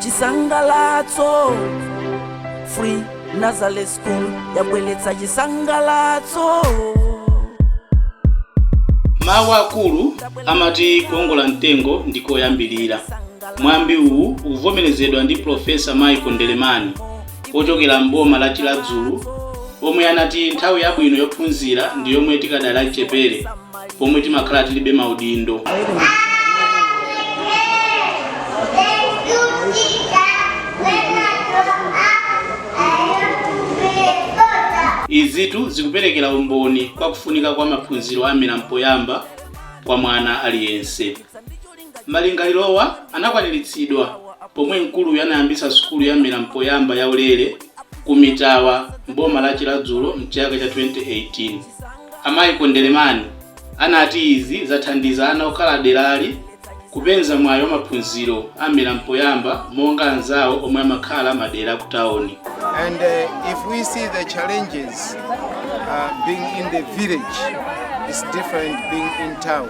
chisangalatso free nursery school yabweretsa chisangalatso mawu akulu amati kuongola mtengo ndi koyambirira mwambi uwu ukuvomerezedwa ndi profesa michael ndelemani ochokera m'boma la chiradzulu omwe anati nthawi yabwino yophunzira ndi yomwe tikadali achichepere pomwe timakhala tilibe maudindo izitu zikuperekera umboni kwa kufunika kwa maphunziro a mmera mpoyamba kwa mwana aliyense Malingalirowa anakwaniritsidwa pomwe mkuluyu anayambitsa sukulu ya mmera mpoyamba ya ulere ku Mitawa m'boma la Chiradzulu mchaka cha 2018. A Michael Ndelemani anati izi zathandiza ana okhala derali kupeza mwayi wa maphunziro a mmera mpoyamba monga anzawo omwe amakhala madera akutaoni. and uh, if we see the challenges uh, being in the village it's different being in town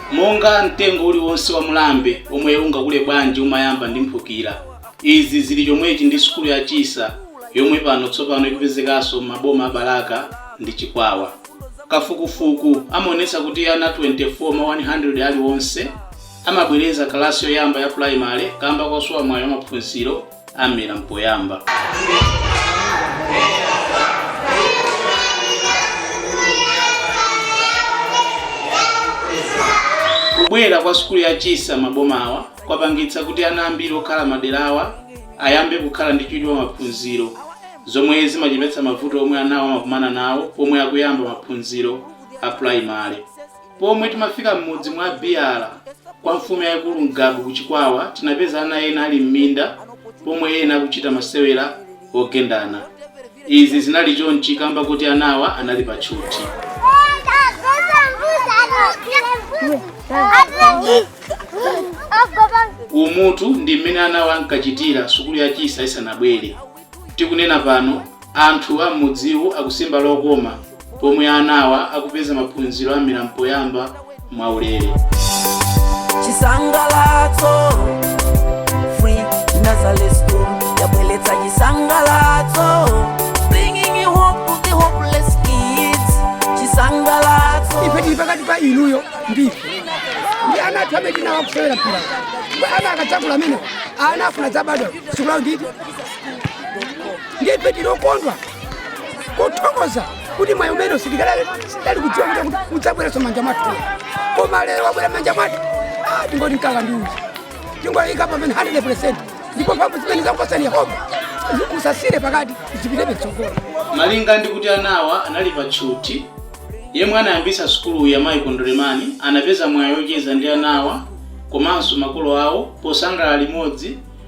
Monga mtengo uliwonse wa mulambe omwe ungakule bwanji umayamba ndi mphukira, izi zili chomwechi ndi sukulu ya Chisa yomwe pano tsopano ikupezekanso m'maboma a Balaka ndi Chikwawa. Kafukufuku amaonetsa kuti ana 24 mwa 100 aliwonse amabwereza kalasi yoyamba ya pulayimale kamba kosowa mwayi wa maphunziro. a mmera mpoyamba kubwera kwa sukulu ya chisa m'mabomawa kwapangitsa kuti ana ambiri okhala m'maderawa ayambe kukhala ndi chidwi pa maphunziro zomwe zimachepetsa mavuto omwe anawo amakumana nawo pomwe akuyamba maphunziro a primary Pomwe timafika m'mudzi mwa Biyala kwa mfumu yaikulu Ngabu ku Chikwawa tinapeza ana ena ali m'minda pomwe ena akuchita masewera ogendana. Izi zinali chonchi kamba koti anawa anali pa tchuthi. Umutu ndi m'mene anawa ankachitira sukulu ya Chisa isanabwere. Tikunena pano, anthu a m'mudziwu akusimba lokoma pomwe anawa akupeza maphunziro a mmera mpoyamba mwaulere. Chisangalatso Free Nursery School yabweretsa chisangalatso bringing hope to the hopeless kids chisangalatso ife tili pakati pa inuyo ndife ndi ana athu amene tili nawo akusewera mpira ana akadzakula amene akufuna adzabadwa sikulawo nditi ndife tinakondwa kuthokoza kuti mwayi umene sitikadali kudziwa kuti udzabweranso m'manja mwathu koma lero wabwera m'manja mwathu ah, tingoti mkaka ndi uchi tingoyika pamene 100 percent ndipo mphamvu zimene wakupatsani yehova musasiyire pakati zipitebe pa mtsogolo malinga ndi kuti anawa anali pa tchuthi yemwe anayambitsa sukuluyi a michael ndelemani anapeza mwayi ocheza ndi anawa komanso makolo awo posangalala limodzi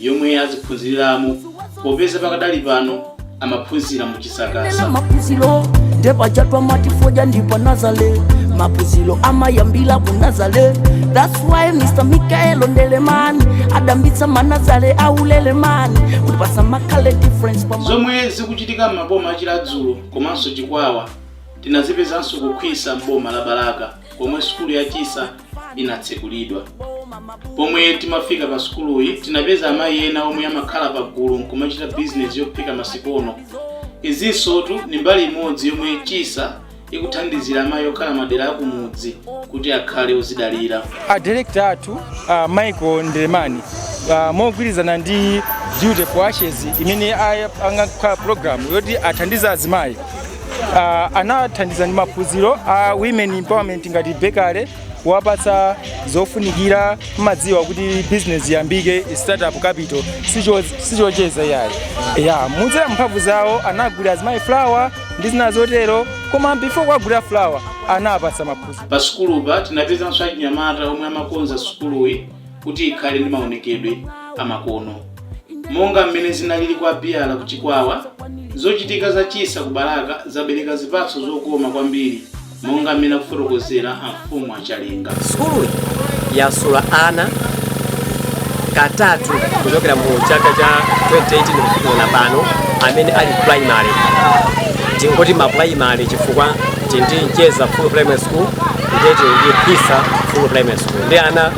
yomwe adziphunziriramo popeza pakadali pano amaphunzira mu chisakasa maphunziro ndi pachatwa matifoja ndipo nazale maphunziro amayambira ku nazale thats why mr michael ndelemani adayambitsa manazale aulere kutipatsa makale difference pa zomwe zikuchitika m'maboma a chiradzulu komanso chikwawa tinazipezanso ku khwisa m'boma la balaka komwe sukulu ya chisa inatsekulidwa pomwe timafika pa sukuluyi tinapeza amayi ena omwe amakhala pa gulu nkumachita bizinesi yophika masikono izinsotu ndi mbali imodzi yomwe chisa ikuthandizira amayi okhala madera akumudzi kuti akhale odzidalira a director athu uh, michael ndelemani uh, mogwirizana ndi beauty for ashes imene aya- angakhala program yoti athandize azimayi uh, anathandiza ndi maphunziro a uh, women empowerment ngati bakery kuwapatsa zofunikira mumadziwa kuti business iyambike startup capital sichocheza iyayi ndiye kudzera mumphamvu zawo anagulira azimayi flour ndi zina zotero koma before kuwagulira flour anawapatsa maphunziro pa sukulupa tinapezanso achinyamata omwe amakonza sukuluyi kuti ikhale ndi maonekedwe amakono. Monga mmene zinalili kwa Biala ku Chikwawa, zochitika za Chisa ku Balaka zabereka zipatso zokoma kwambiri monga mmene akufotokozera Amfumu a Chalenga. Sukuluyi yasula ana kakatu kuchokera mu chaka cha 2018 kufikira pano amene ali ku primary tingoti ma primary chifukwa tili ndi mcheza full primary school ndiye tili ndi pisa full primary school ndi ana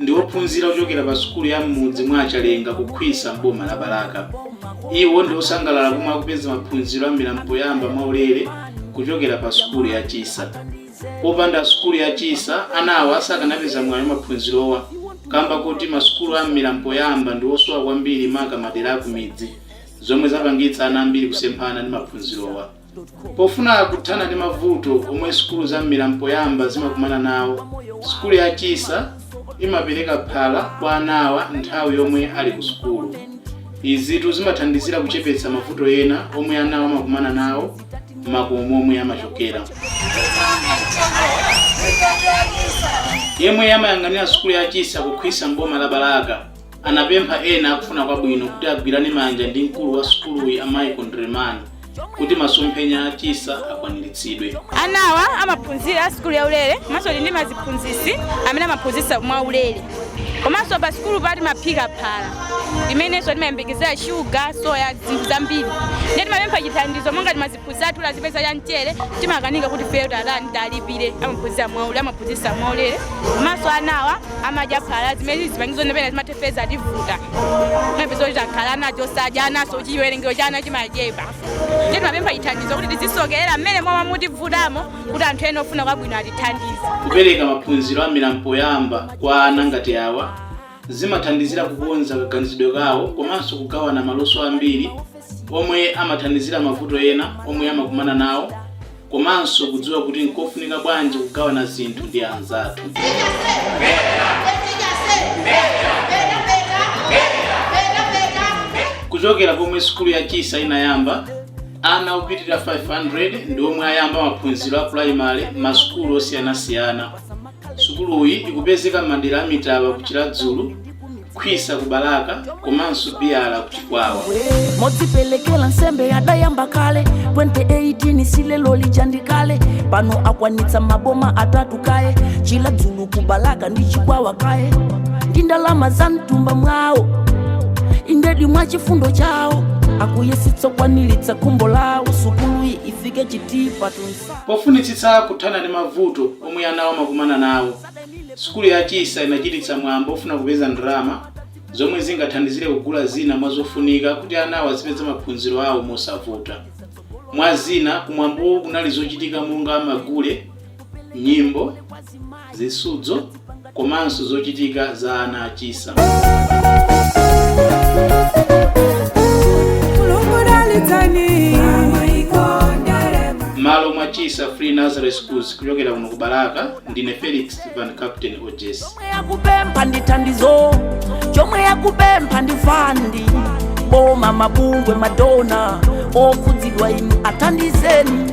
ndi ophunzira ochokera pa sukulu ya m'mudzi mwa a Chalenga ku Khwisa m'boma la Balaka. Iwo ndi osangalala pomwe akupeza maphunziro a mmera mpoyamba mwaulere kuchokera pa sukulu ya Chisa. Popanda sukulu ya Chisa, ana awa sakanapeza mwayi wa maphunzirowa kamba kakuti masukulu a mmera mpoyamba ndi osowa kwambiri maka madera akumidzi, zomwe zapangitsa ana ambiri kusemphana ndi maphunzirowa. Pofuna kuthana ndi mavuto omwe sukulu za mmera mpoyamba zimakumana nawo, sukulu ya Chisa imapereka phala kwa anawa nthawi yomwe ali ku sukulu. Izitu zimathandizira kuchepetsa mavuto ena omwe anawa amakumana nawo mmakomo momwe amachokera. Yemwe amayang'anira sukulu ya Chisa ku Khwisa m'boma la Balaka, anapempha ena akufuna kwabwino kuti agwirane manja ndi mkulu wa sukuluyi a Michael Ndremani kuti masomphenya a Chisa akwaniritsidwe. Anawa amaphunzira sukulu ya ulere komanso ndi maziphunzitsi amene amaphunzitsa mwa ulere komanso pa sukulupa timaphika phala limenenso timayembekezera shuga soya zinthu zambiri ndiye timapempha chithandizo monga kuzathu zipezeka cha mchere timakanika kuti feyo tatani talipire amaphunzira mwaulere amaphunzitsa mwaulere komanso anawa amadya phala zimene zipangizo nepena zimathefeza kutivuta mapeza kuti takhala ana osadya ananso chiwerengero cha ana chimachepa ndi timapempha chithandizo kuti tizisonkherana mmene momwe mutivutamo kuti anthu ena ofuna kwabwino atithandize kupereka maphunziro a mmera mpoyamba kwa ana ngati awa zimathandizira kukonza kaganizidwe kawo komanso kugawana maluso ambiri omwe amathandizira mavuto ena omwe amakumana nawo komanso kudziwa kuti nkofunika bwanji kugawana zinthu ndi anzathu kuchokera pomwe sukulu ya chisa inayamba ana opitirira 500 ndi omwe ayamba maphunziro a pulayimale m'masukulu osiyanasiyana Sukuluyi ikupezeka m'madera a Mitaba ku Chiradzulu, Khwisa ku Balaka komanso Biyala ku Chikwawa. modzipelekela nsembe adayamba kale 2018 si leroli ndi kale pano akwanitsa maboma atatu kaye chiladzulu kubalaka ndi chikwawa kaye ndi ndalama za mtumba mwawo indedi mwa chifundo chawo akuyesetsa kukwanilitsa khumbo lawo sukuluyi ifike chitipa tu nsa Pofunitsitsa kuthana ndi mavuto omwe anawo amakumana nawo, sukulu ya Chisa inachititsa mwambo ofuna kupeza ndalama zomwe zingathandizire kugula zina mwa zofunika kuti anawo azipeza maphunziro awo mosavuta. Mwa zina, kumwambowu kunali zochitika monga magule, nyimbo. zisudzo komanso zochitika za ana a chisa. Mmalo mwa Chisa Free Nursery Schools kuchokera kuno ku Balaka ndine Felix Van Captain OJS. chomwe yakupempha ndi thandizo chomwe yakupempha ndi fandi boma mabungwe madona okhudzidwa inu athandizeni